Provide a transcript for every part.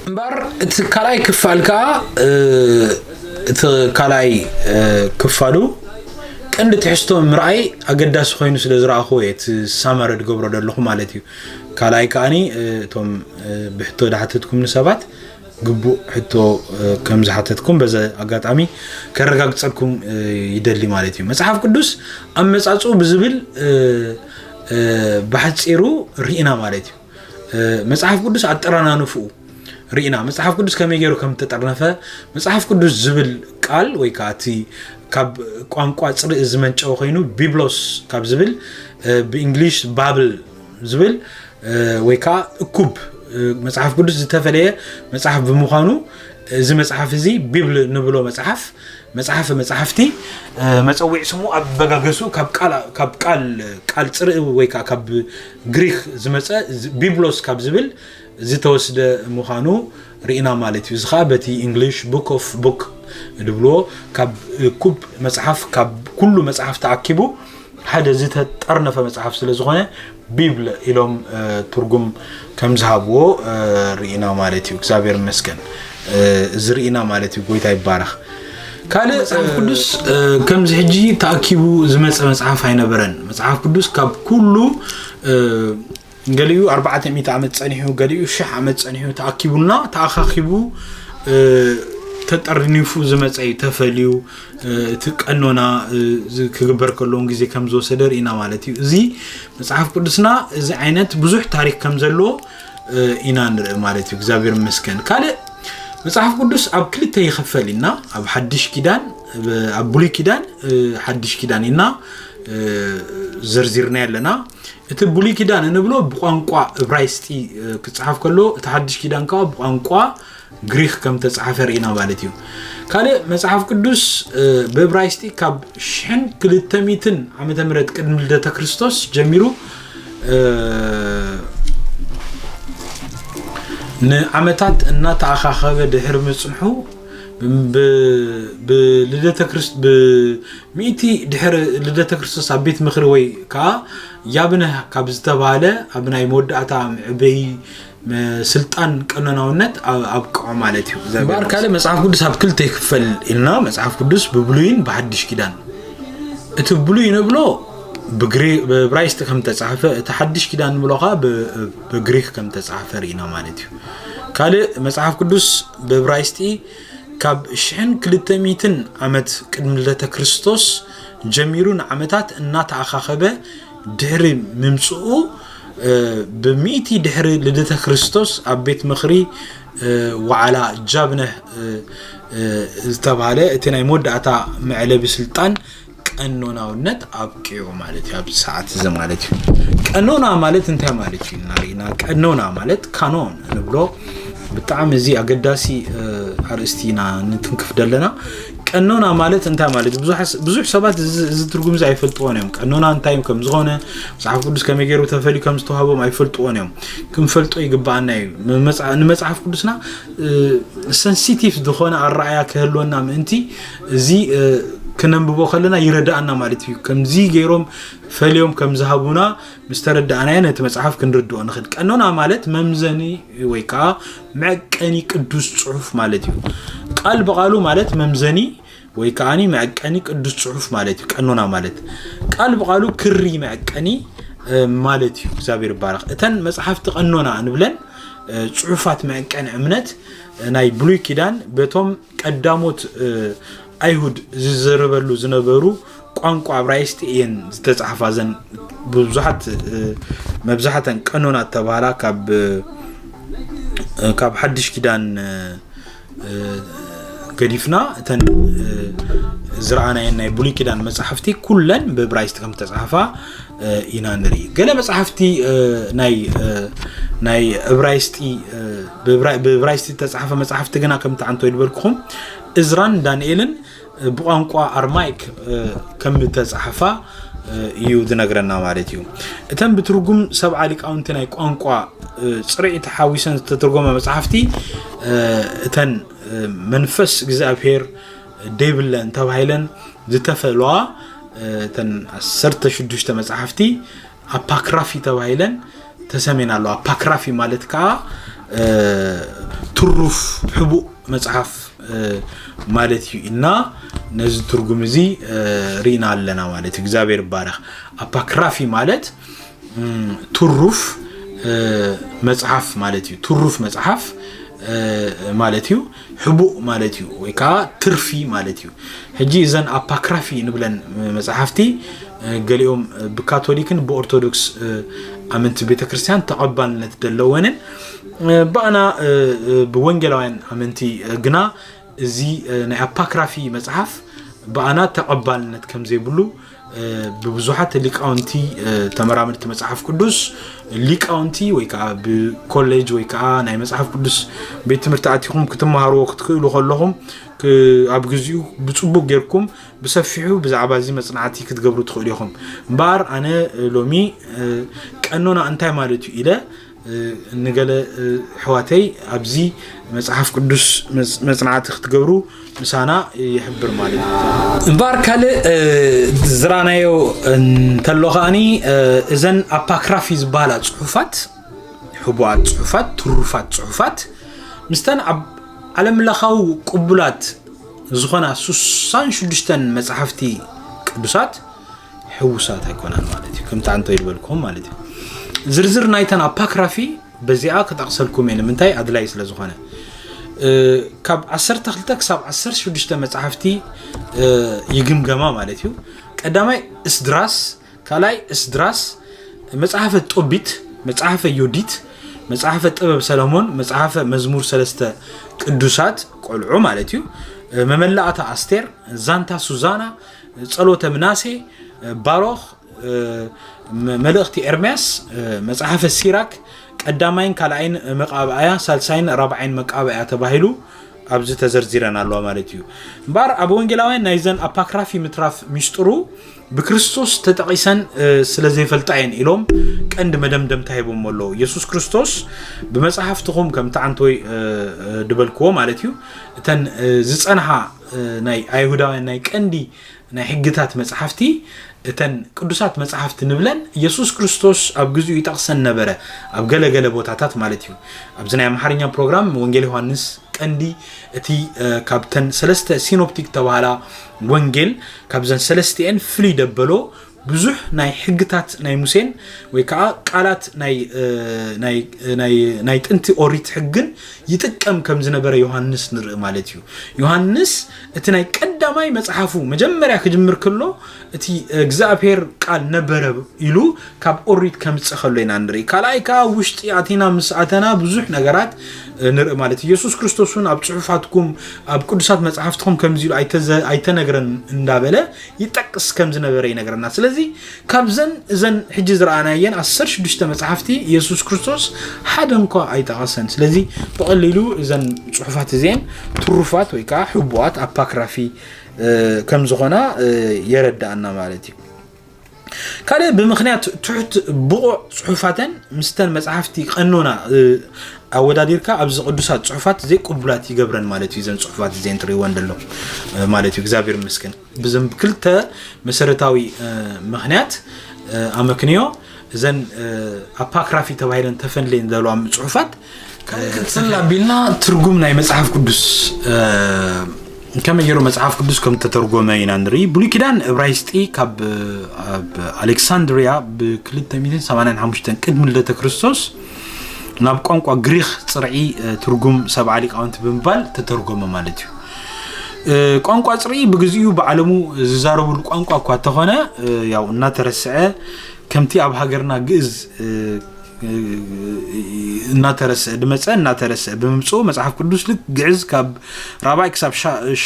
እምበር እቲ ካልኣይ ክፋል ከዓ እቲ ካልኣይ ክፋሉ ቀንዲ ትሕዝቶ ምርኣይ ኣገዳሲ ኮይኑ ስለ ዝረኣኹዎ እየ እቲ ሳመረ ድገብሮ ዘለኹ ማለት እዩ ካልኣይ ከዓኒ እቶም ብሕቶ ዳሓተትኩምኒ ሰባት ግቡእ ሕቶ ከም ዝሓተትኩም በዚ ኣጋጣሚ ከረጋግፀልኩም ይደሊ ማለት እዩ መፅሓፍ ቅዱስ ኣመፃፅኡ ብዝብል ብሓፂሩ ርኢና ማለት እዩ መፅሓፍ ቅዱስ ኣጠራናንፍኡ ርኢና መፅሓፍ ቅዱስ ከመይ ገይሩ ከም ተጠርነፈ መፅሓፍ ቅዱስ ዝብል ቃል ወይ ከዓ እቲ ካብ ቋንቋ ፅርኢ ዝመንጨወ ኮይኑ ቢብሎስ ካብ ዝብል ብእንግሊሽ ባብል ዝብል ወይ ከዓ እኩብ መፅሓፍ ቅዱስ ዝተፈለየ መፅሓፍ ብምዃኑ እዚ መፅሓፍ እዚ ቢብል ንብሎ መፅሓፍ መፅሓፍ መፅሓፍቲ መፀዊዒ ስሙ ኣበጋገሱ ካብ ቃል ፅርኢ ወይ ከዓ ካብ ግሪክ ዝመፀ ቢብሎስ ካብ ዝብል ዝተወስደ ምዃኑ ርኢና ማለት እዩ። እዚ ከኣ በቲ ኢንግሊሽ ቡክ ኦፍ ቡክ ዝብልዎ ካብ እኩብ መጽሓፍ ካብ ኩሉ መጽሓፍ ተኣኪቡ ሓደ ዝተጠርነፈ መጽሓፍ ስለ ዝኾነ ቢብል ኢሎም ትርጉም ከም ዝሃብዎ ርኢና ማለት እዩ። እግዚኣብሔር ይመስገን እዚ ርኢና ማለት እዩ። ጎይታ ይባረኽ። ካልእ መጽሓፍ ቅዱስ ከምዚ ሕጂ ተኣኪቡ ዝመጸ መጽሓፍ ኣይነበረን። መጽሓፍ ቅዱስ ካብ ኩሉ ገሊኡ ኣርባዕተ ሚእቲ ዓመት ጸኒሑ ገሊኡ ሽሕ ዓመት ጸኒሑ ተኣኪቡና ተኣኻኺቡ ተጠርኒፉ ዝመፀ እዩ ተፈልዩ እቲ ቀኖና ክግበር ከለውን ግዜ ከም ዝወሰደ ርኢና ማለት እዩ እዚ መፅሓፍ ቅዱስና እዚ ዓይነት ብዙሕ ታሪክ ከም ዘለዎ ኢና ንርኢ ማለት እዩ እግዚኣብሔር መስገን ካልእ መፅሓፍ ቅዱስ ኣብ ክልተ ይኽፈል ኢና ኣብ ሓድሽ ኪዳን ኣብ ብሉይ ኪዳን ሓድሽ ኪዳን ኢና ዘርዚርና ኣለና እቲ ብሉይ ኪዳን እንብሎ ብቋንቋ እብራይስጢ ክፀሓፍ ከሎ እቲ ሓድሽ ኪዳን ከዓ ብቋንቋ ግሪክ ከም ተፃሓፈ ርኢና ማለት እዩ ካልእ መፅሓፍ ቅዱስ ብእብራይስጢ ካብ ሽሕን ክልተ ሚትን ዓመተ ምህረት ቅድሚ ልደተ ክርስቶስ ጀሚሩ ንዓመታት እናተኣኻኸበ ድሕሪ ምፅንሑ ብልደተ ክርስቶስ ሚእቲ ድሕሪ ልደተ ክርስቶስ ኣብ ቤት ምኽሪ ወይ ከኣ ያብነህ ካብ ዝተባህለ ኣብ ናይ መወዳእታ መዕበዪ ስልጣን ቀኖናውነት ኣብቅዖ ማለት እዩ። እምበኣር ካልእ መጽሓፍ ቅዱስ ኣብ ክልተ ይክፈል ኢልና መጽሓፍ ቅዱስ ብብሉይን ብሓድሽ ኪዳን እቲ ብሉይ ንብሎ ብብራይስጥ ከም ተጻሕፈ እቲ ሓድሽ ኪዳን ንብሎ ከዓ ብግሪክ ከም ተጻሕፈ ርኢና ማለት እዩ ካልእ መጽሓፍ ቅዱስ ብብራይስጢ ካብ ሽሕን ክልተ ሚእትን ዓመት ቅድሚ ልደተ ክርስቶስ ጀሚሩ ንዓመታት እናተኣኻኸበ ድሕሪ ምምጽኡ ብሚእቲ ድሕሪ ልደተ ክርስቶስ ኣብ ቤት ምኽሪ ዋዓላ ጃብነህ ዝተባሃለ እቲ ናይ መወዳእታ መዕለቢ ስልጣን ቀኖናውነት ኣብቂዑ ማለት እዩ ኣብዚ ሰዓት እዚ ማለት እዩ ቀኖና ማለት እንታይ ማለት እዩ ናሪና ቀኖና ማለት ካኖን ንብሎ ብጣዕሚ እዚ ኣገዳሲ ኣርእስቲ ኢና ንትንክፍ ዘለና ቀኖና ማለት እንታይ ማለት እዩ ብዙሕ ሰባት እዚ ትርጉም እዚ ኣይፈልጥዎን እዮም ቀኖና እንታይ ከም ዝኾነ መፅሓፍ ቅዱስ ከመይ ገይሩ ተፈልዩ ከም ዝተዋህቦም ኣይፈልጥዎን እዮም ክንፈልጦ ይግባኣና እዩ ንመፅሓፍ ቅዱስና ሰንሲቲቭ ዝኾነ ኣረኣያ ክህልወና ምእንቲ እዚ ክነንብቦ ከለና ይረዳእና ማለት እዩ ከምዚ ገይሮም ፈልዮም ከም ዝሃቡና ምስ ተረዳእናዮ ነቲ መፅሓፍ ክንርድኦ ንኽእል ቀኖና ማለት መምዘኒ ወይ ከዓ መዕቀኒ ቅዱስ ፅሑፍ ማለት እዩ ቃል ብቃሉ ማለት መምዘኒ ወይ ከዓ መዕቀኒ ቅዱስ ፅሑፍ ማለት እዩ ቀኖና ማለት ቃል ብቃሉ ክሪ መዕቀኒ ማለት እዩ እግዚኣብሔር ይባረክ እተን መፅሓፍቲ ቀኖና ንብለን ፅሑፋት መዕቀኒ እምነት ናይ ብሉይ ኪዳን በቶም ቀዳሞት ኣይሁድ ዝዘረበሉ ዝነበሩ ቋንቋ ኣብራይስጢ እየን ዝተፃሓፋ ዘን ብዙሓት መብዛሕተን ቀኖና እተባሃላ ካብ ካብ ሓድሽ ኪዳን ገዲፍና እተን ዝረኣናየን ናይ ብሉይ ኪዳን መፃሕፍቲ ኩለን ብእብራይስጢ ከም ዝተፃሓፋ ኢና ንርኢ ገለ መፅሓፍቲ ናይ ናይ እብራይስጢ ብእብራይስጢ ዝተፃሓፈ መፅሓፍቲ ግና ከምቲ ዓንቶ ይድበልኩኹም እዝራን ዳንኤልን ብቋንቋ ኣርማይክ ከም ተፃሓፋ እዩ ዝነግረና ማለት እዩ እተን ብትርጉም ሰብዓ ሊቃውንቲ ናይ ቋንቋ ፅርዒ ተሓዊሰን ዝተተርጎመ መፅሓፍቲ እተን መንፈስ እግዚኣብሄር ደይብለን ተባሂለን ዝተፈልዋ እተን ዓሰርተ ሽዱሽተ መፅሓፍቲ ኣፓክራፊ ተባሂለን ተሰሜን ኣለዋ ኣፓክራፊ ማለት ከዓ ትሩፍ ሕቡእ መፅሓፍ ማለት እዩ እና ነዚ ትርጉም እዚ ርኢና ኣለና ማለት እዩ እግዚኣብሔር ይባረክ ኣፓክራፊ ማለት ትሩፍ መጽሓፍ ማለት እዩ። ትሩፍ መጽሓፍ ማለት እዩ ሕቡእ ማለት እዩ ወይ ከዓ ትርፊ ማለት እዩ ሕጂ እዘን ኣፓክራፊ ንብለን መፅሓፍቲ ገሊኦም ብካቶሊክን ብኦርቶዶክስ ኣመንቲ ቤተ ክርስቲያን ተቐባልነት ዘለወንን ብኣና ብወንጌላውያን ኣመንቲ ግና እዚ ናይ ኣፓክራፊ መፅሓፍ ብኣና ተቐባልነት ከም ዘይብሉ ብብዙሓት ሊቃውንቲ ተመራመድቲ መፅሓፍ ቅዱስ ሊቃውንቲ ወይ ከዓ ብኮሌጅ ወይ ከዓ ናይ መፅሓፍ ቅዱስ ቤት ትምህርቲ ኣቲኹም ክትመሃርዎ ክትክእሉ ከለኹም ኣብ ግዚኡ ብፅቡቅ ጌርኩም ብሰፊሑ ብዛዕባ እዚ መፅናዕቲ ክትገብሩ ትኽእሉ ኢኹም እምበኣር ኣነ ሎሚ ቀኖና እንታይ ማለት እዩ ኢለ ንገለ ኣሕዋተይ ኣብዚ መጽሓፍ ቅዱስ መጽናዕቲ ክትገብሩ ምሳና ይሕብር ማለት እዩ እምበኣር ካልእ ዝራናዮ እንተሎ ከዓኒ እዘን ኣፓክራፊ ዝበሃላ ጽሑፋት ሕቡኣት ጽሑፋት ትሩፋት ጽሑፋት ምስተን ኣብ ዓለም ለኻዊ ቅቡላት ዝኾና ስሳን ሽዱሽተን መጽሓፍቲ ቅዱሳት ሕውሳት ኣይኮናን ማለት እዩ ከምቲ ኣንተ ዝበልክዎም ማለት እዩ ዝርዝር ናይተን ኣፓክራፊ በዚኣ ክጠቕሰልኩም እየ ንምንታይ ኣድላይ ስለ ዝኾነ ካብ 12 ክሳብ 16 መፅሓፍቲ ይግምገማ ማለት እዩ ቀዳማይ እስድራስ ካልኣይ እስድራስ መፅሓፈ ጦቢት መፅሓፈ ዮዲት መፅሓፈ ጥበብ ሰለሞን መፅሓፈ መዝሙር ሰለስተ ቅዱሳት ቆልዑ ማለት እዩ መመላእታ ኣስቴር ዛንታ ሱዛና ጸሎተ ምናሴ ባሮኽ መልእኽቲ ኤርምያስ መጽሓፈ ሲራክ ቀዳማይን ካልኣይን መቃብኣያ ሳልሳይን ራብዓይን መቃብኣያ ተባሂሉ ኣብዚ ተዘርዚረን ኣለዋ ማለት እዩ እምበኣር ኣብ ወንጌላውያን ናይዘን ኣፓክራፊ ምትራፍ ሚስጥሩ ብክርስቶስ ተጠቒሰን ስለ ዘይፈልጣ እየን ኢሎም ቀንዲ መደምደምታ ሂቦሞ ኣለዉ የሱስ ክርስቶስ ብመፅሓፍትኹም ከምቲ ዓንተወይ ድበልክዎ ማለት እዩ እተን ዝፀንሓ ናይ ኣይሁዳውያን ናይ ቀንዲ ናይ ሕግታት መጽሓፍቲ እተን ቅዱሳት መጽሓፍቲ ንብለን ኢየሱስ ክርስቶስ ኣብ ግዜኡ ይጠቕሰን ነበረ ኣብ ገለገለ ቦታታት ማለት እዩ ኣብዚ ናይ ኣምሓርኛ ፕሮግራም ወንጌል ዮሃንስ ቀንዲ እቲ ካብተን ሰለስተ ሲኖፕቲክ ተባሃላ ወንጌል ካብዘን ሰለስቲኤን ፍልይ ደበሎ ብዙሕ ናይ ሕግታት ናይ ሙሴን ወይ ከዓ ቃላት ናይ ጥንቲ ኦሪት ሕግን ይጥቀም ከም ዝነበረ ዮሃንስ ንርኢ ማለት እዩ ዮሃንስ እቲ ናይ ቀዳማይ መፅሓፉ መጀመርያ ክጅምር ክሎ እቲ እግዚኣብሔር ቃል ነበረ ኢሉ ካብ ኦሪት ከምፅ ከሎ ኢና ንርኢ ካልኣይ ከዓ ውሽጢ ኣቲና ምስ ኣተና ብዙሕ ነገራት ንርኢ ማለት እዩ የሱስ ክርስቶስ እውን ኣብ ፅሑፋትኩም ኣብ ቅዱሳት መፅሓፍትኩም ከምዚ ኢሉ ኣይተነግረን እንዳበለ ይጠቅስ ከም ዝነበረ ይነግረና ስለዚ ካብዘን እዘን ሕጂ ዝረኣናየን 16 መፅሓፍቲ የሱስ ክርስቶስ ሓደ እንኳ ኣይጠቐሰን ስለዚ ብቐሊሉ እዘን ፅሑፋት እዚአን ትሩፋት ወይ ከዓ ሕቡኣት ኣፓክራፊ ከም ዝኾና የረዳእና ማለት እዩ ካልእ ብምክንያት ትሑት ብቑዕ ፅሑፋተን ምስተን መፅሓፍቲ ቀኖና ኣወዳዲርካ ኣብዚ ቅዱሳት ጽሑፋት ዘይቅቡላት ይገብረን ማለት እዩ። ዘን ጽሑፋት እዚኤን ትርእይወን ዘለኹም ማለት እዩ። እግዚኣብሔር ይመስገን ብዘም ክልተ መሰረታዊ ምክንያት ኣመክንዮ እዘን ኣፓክራፊ ተባሂለን ተፈንሌን ዘለዋ ጽሑፋት ክፅል ኣቢልና ትርጉም ናይ መፅሓፍ ቅዱስ ከመይ ገይሩ መፅሓፍ ቅዱስ ከም ተተርጎመ ኢና ንርኢ ብሉይ ኪዳን እብራይስጢ ካብ ኣሌክሳንድሪያ ብ285 ቅድሚ ልደተ ክርስቶስ ናብ ቋንቋ ግሪኽ ፅርዒ ትርጉም ሰብዓ ሊቃውንቲ ብምባል ተተርጎመ ማለት እዩ ቋንቋ ፅርኢ ብግዚኡ ብዓለሙ ዝዛረብሉ ቋንቋ እኳ እንተኾነ ያው እናተረስዐ ከምቲ ኣብ ሃገርና ግእዝ እናተረስዐ ድመፀ እናተረስዐ ብምምፅኡ መፅሓፍ ቅዱስ ልክ ግዕዝ ካብ ራብዓይ ክሳብ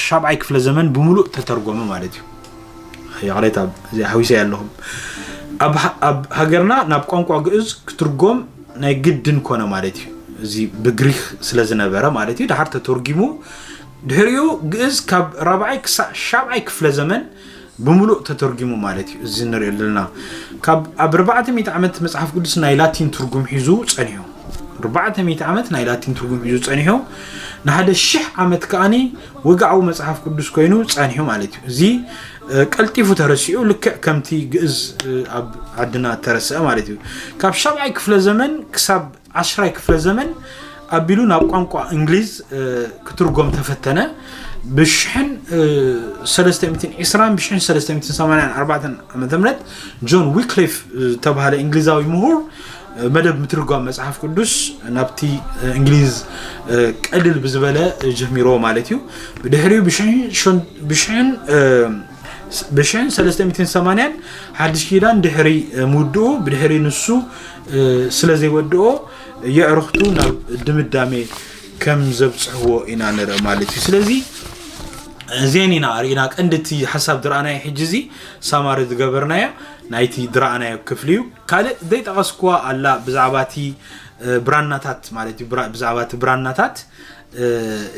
ሻብዓይ ክፍለ ዘመን ብምሉእ ተተርጎመ ማለት እዩ ይቕሬታ እዚኣ ሓዊሰያ ኣለኹ ኣብ ሃገርና ናብ ቋንቋ ግእዝ ክትርጎም ናይ ግድን ኮነ ማለት እዩ እዚ ብግሪክ ስለ ዝነበረ ማለት እዩ ድሓር ተተርጊሙ ድሕሪኡ ግእዝ ካብ ራብዓይ ክሳዕ ሻብዓይ ክፍለ ዘመን ብምሉእ ተተርጊሙ ማለት እዩ እዚ ንሪኦ ዘለና ካብ ኣብ ርባዕተ ሚእቲ ዓመት መፅሓፍ ቅዱስ ናይ ላቲን ትርጉም ሒዙ ፀኒሑ ርባዕተ ሚእቲ ዓመት ናይ ላቲን ትርጉም ሒዙ ፀኒሑ ንሓደ ሽሕ ዓመት ከዓኒ ወግዓዊ መጽሓፍ ቅዱስ ኮይኑ ጸኒሑ ማለት እዩ። እዚ ቀልጢፉ ተረሲዑ ልክዕ ከምቲ ግእዝ ኣብ ዓድና እተረስዐ ማለት እዩ። ካብ ሻብዓይ ክፍለ ዘመን ክሳብ ዓሽራይ ክፍለ ዘመን ኣቢሉ ናብ ቋንቋ እንግሊዝ ክትርጎም ተፈተነ ብሽሕን ሰለስተ ሚእትን ዕስራን ብሽሕን ሰለስተ ሚእትን ሰማንያን ኣርባዕተን ዓመተ ምህረት ጆን ዊክሊፍ ዝተባሃለ እንግሊዛዊ ምሁር መደብ ምትርጓም መጽሓፍ ቅዱስ ናብቲ እንግሊዝ ቀልል ብዝበለ ጀሚሮ ማለት እዩ ብድሕሪኡ ብሽሕን ብሽሕን ሰለስተ ሚትን ሰማንያን ሓድሽ ኪዳን ድሕሪ ምውድኡ ብድሕሪ ንሱ ስለ ዘይወድኦ የዕርኽቱ ናብ ድምዳሜ ከም ዘብፅሕዎ ኢና ንርኢ ማለት እዩ ስለዚ እዚአን ኢና ርኢና ቀንዲ እቲ ሓሳብ ድረኣናዮ ሕጂ እዚ ሳማሪ ዝገበርናዮ ናይቲ ድረኣናዮ ክፍሊ እዩ ካልእ ዘይጠቐስኩዋ ኣላ ብዛዕባ እቲ ብራናታት ማለት እዩ ብዛዕባ እቲ ብራናታት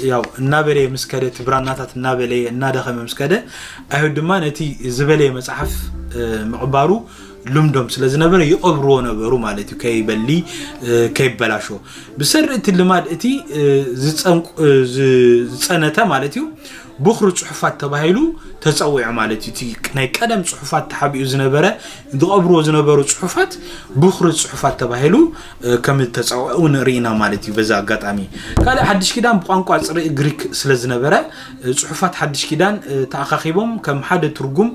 ያው እናበለየ ምስ ከደ እቲ ብራናታት እናበለየ እናደኸመ ምስ ከደ ኣይሁድ ድማ ነቲ ዝበለየ መፅሓፍ ምቕባሩ ልምዶም ስለ ዝነበረ ይቐብርዎ ነበሩ ማለት እዩ ከይበሊ ከይበላሾ ብሰሪ እቲ ልማድ እቲ ዝፀንቁ- ዝ- ዝፀነተ ማለት እዩ ብኩሪ ፅሑፋት ተባሂሉ ተፀዊዑ ማለት እዩ እቲ ናይ ቀደም ፅሑፋት ተሓቢኡ ዝነበረ ዝቐብርዎ ዝነበሩ ፅሑፋት ብኩሪ ፅሑፋት ተባሂሉ ከም ዝተፀውዐ እውን ርኢና ማለት እዩ በዛ ኣጋጣሚ ካልእ ሓድሽ ኪዳን ብቋንቋ ፅርኢ ግሪክ ስለ ዝነበረ ፅሑፋት ሓድሽ ኪዳን ተኣኻኺቦም ከም ሓደ ትርጉም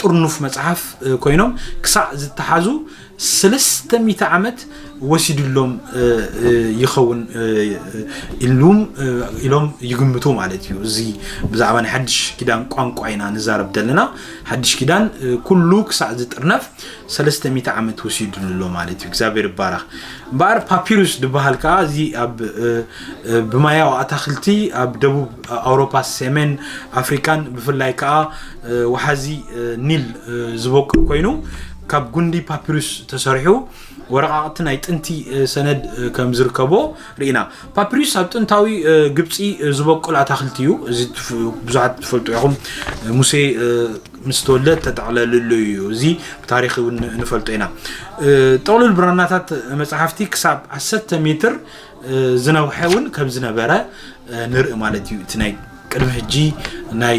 ጥርኑፍ መፅሓፍ ኮይኖም ክሳዕ ዝተሓዙ ሰለስተ ሚእቲ ዓመት ወሲድሎም ይኸውን ኢሉም ኢሎም ይግምቱ ማለት እዩ። እዚ ብዛዕባ ናይ ሓድሽ ኪዳን ቋንቋ ኢና ንዛረብ ዘለና። ሓድሽ ኪዳን ኩሉ ክሳዕ ዝጥርነፍ ሰለስተ ሚእቲ ዓመት ወሲድሉ ኣሎ ማለት እዩ። እግዚኣብሔር ይባረኽ። እምበኣር ፓፒሩስ ዝበሃል ከዓ እዚ ኣብ ብማያዊ ኣታክልቲ ኣብ ደቡብ ኣውሮፓ፣ ሰሜን ኣፍሪካን ብፍላይ ከዓ ወሓዚ ኒል ዝበቁል ኮይኑ ካብ ጉንዲ ፓፒሩስ ተሰሪሑ ወረቃቅቲ ናይ ጥንቲ ሰነድ ከም ዝርከቦ ርኢና። ፓፒሩስ ኣብ ጥንታዊ ግብፂ ዝበቁል ኣታክልቲ እዩ። እዚ ብዙሓት ትፈልጡ ኢኹም። ሙሴ ምስ ተወልደ ተጠቕለልሉ እዩ። እዚ ብታሪክ እውን ንፈልጦ ኢና። ጥቕልል ብራናታት መፅሓፍቲ ክሳብ 10 ሜትር ዝነውሐ እውን ከም ዝነበረ ንርኢ ማለት እዩ እቲ ናይ ቅድሚ ሕጂ ናይ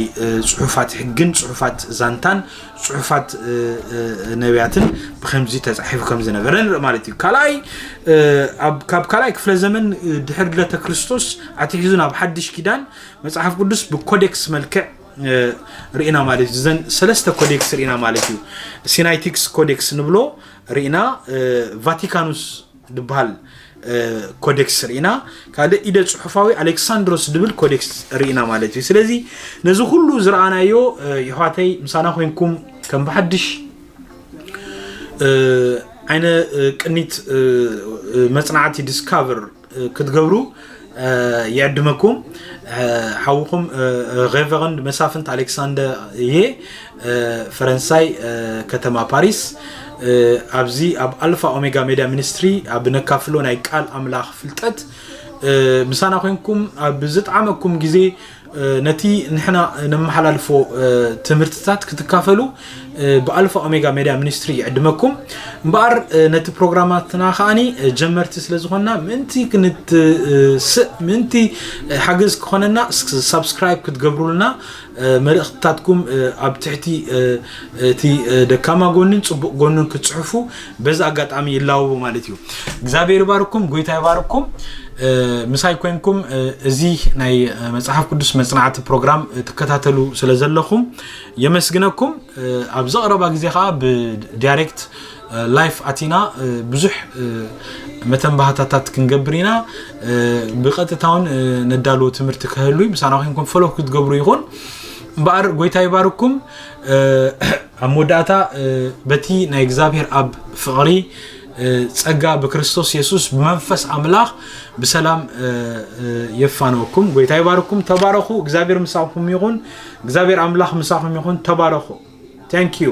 ፅሑፋት ሕግን ፅሑፋት ዛንታን ፅሑፋት ነቢያትን ብከምዚ ተፃሒፉ ከም ዝነበረ ንርኢ ማለት እዩ ካልኣይ ካብ ካልኣይ ክፍለ ዘመን ድሕሪ ልደተ ክርስቶስ ኣትሒዙ ናብ ሓድሽ ኪዳን መፅሓፍ ቅዱስ ብኮዴክስ መልክዕ ርኢና ማለት እዩ ዘን ሰለስተ ኮዴክስ ርኢና ማለት እዩ ሲናይቲክስ ኮዴክስ ንብሎ ርኢና ቫቲካኑስ ድበሃል ኮደክስ ርኢና ካልእ ኢደ ጽሑፋዊ ኣሌክሳንድሮስ ድብል ኮደክስ ርኢና ማለት እዩ ስለዚ ነዚ ኩሉ ዝረኣናዮ ይሕዋተይ ምሳና ኮንኩም ከም ብሓድሽ ዓይነ ቅኒት መጽናዕቲ ዲስካቨር ክትገብሩ ይዕድመኩም ሓውኹም ሬቨረንድ መሳፍንት ኣሌክሳንደር እየ ፈረንሳይ ከተማ ፓሪስ ኣብዚ ኣብ ኣልፋ ኦሜጋ ሜድያ ሚኒስትሪ ኣብ ነካፍሎ ናይ ቃል ኣምላኽ ፍልጠት ምሳና ኮንኩም ኣብ ዝጠዓመኩም ግዜ ነቲ ንሕና ነመሓላልፎ ትምህርትታት ክትካፈሉ ብኣልፋ ኦሜጋ ሜድያ ሚኒስትሪ ይዕድመኩም እምበኣር ነቲ ፕሮግራማትና ከዓኒ ጀመርቲ ስለ ዝኾንና ምእንቲ ክንትስእ ምእንቲ ሓገዝ ክኾነና ሳብስክራይብ ክትገብሩልና መልእኽትታትኩም ኣብ ትሕቲ እቲ ደካማ ጎንን ፅቡቕ ጎንን ክትፅሕፉ በዚ ኣጋጣሚ ይላወቡ ማለት እዩ እግዚኣብሔር ይባርኩም ጎይታ ይባርኩም ምሳይ ኮንኩም እዚ ናይ መፅሓፍ ቅዱስ መፅናዕቲ ፕሮግራም ትከታተሉ ስለ ዘለኹም የመስግነኩም ኣብ ዘቕረባ ግዜ ከዓ ብዳይሬክት ላይፍ ኣቲና ብዙሕ መተንባህታታት ክንገብር ኢና ብቐጥታ ውን ነዳልዎ ትምህርቲ ክህሉ ምሳና ኮንኩም ፈለክ ክትገብሩ ይኹን እምበኣር ጎይታ ይባርኩም ኣብ መወዳእታ በቲ ናይ እግዚኣብሔር ኣብ ፍቕሪ ጸጋ ብክርስቶስ የሱስ ብመንፈስ ኣምላኽ ብሰላም የፋነወኩም። ጎይታ ይባርኩም። ተባረኹ። እግዚኣብሔር ምሳኹም ይኹን። እግዚኣብሔር ኣምላኽ ምሳኹም ይኹን። ተባረኹ። ታንኪዩ